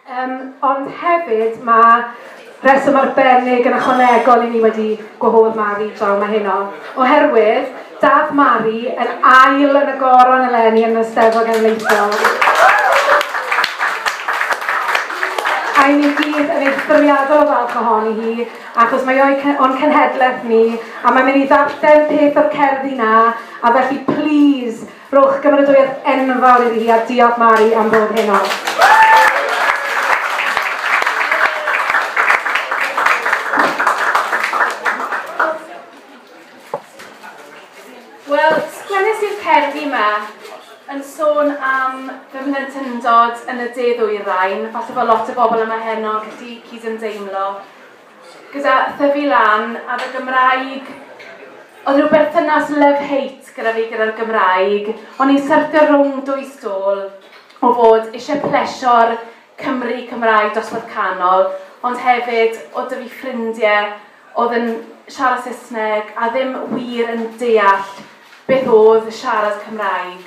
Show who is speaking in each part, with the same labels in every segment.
Speaker 1: Yym, ond hefyd mae rheswm arbennig yn ychwanegol i ni wedi gwahodd Mari draw mae heno, oherwydd dath Mari yn ail yn y goron eleni yn y Steddfod Genedlaethol. A ni gyd yn eithriadol o falch ohoni hi, achos mae o'n cenhedlaeth ni, a mae'n mynd i ddarllen peth o'r cerddi na, a felly please, Rhowch gymeradwyaeth enfawr iddi hi a diolch Mari am bob hyn o.
Speaker 2: plentyndod yn y de ddwyrain, falle bod lot o bobl yma heno wedi cydymdeimlo. gyda thyfu lan a fy Gymraeg oedd rhyw berthynas love-hate gyda fi gyda'r Gymraeg. O'n i'n syrthio rhwng dwy stôl o fod eisiau plesio'r Cymry Cymraeg dosbarth canol, ond hefyd o dyfu fi ffrindiau oedd yn siarad Saesneg a ddim wir yn deall beth oedd siarad Cymraeg.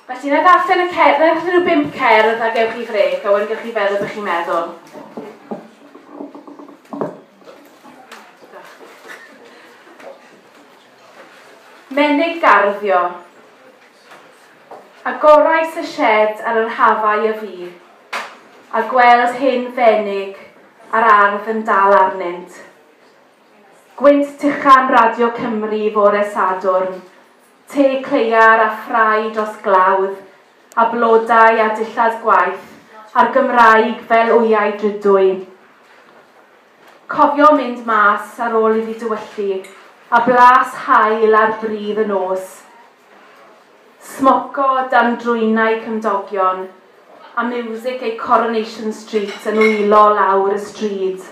Speaker 2: Felly, na darllen y cerdd, na darllen y bimp cerdd a gewch chi frec, a wedyn gewch chi feddwl beth chi'n meddwl. Menig garddio. Agorais y shed ar yr hafau y fi, a gweld hyn fenig a'r ardd yn dal arnynt. Gwynt tuchan Radio Cymru fore Sadwrn, Te cleiar a ffrae dros glawdd, a blodau a dillad gwaith, a'r Gymraeg fel wyau drudwy. Cofio mynd mas ar ôl iddi dywyllu, a blas haul ar bridd y nos. Smoco dan drwynau cymdogion, a miwsig ei Coronation Street yn wylo lawr y stryd.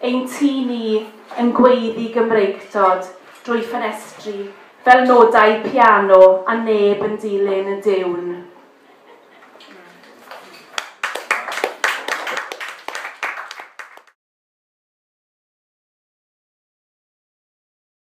Speaker 2: Ein ti ni yn gweiddi Gymreictod drwy ffenestri fel nodau piano a neb yn dilyn y diwn.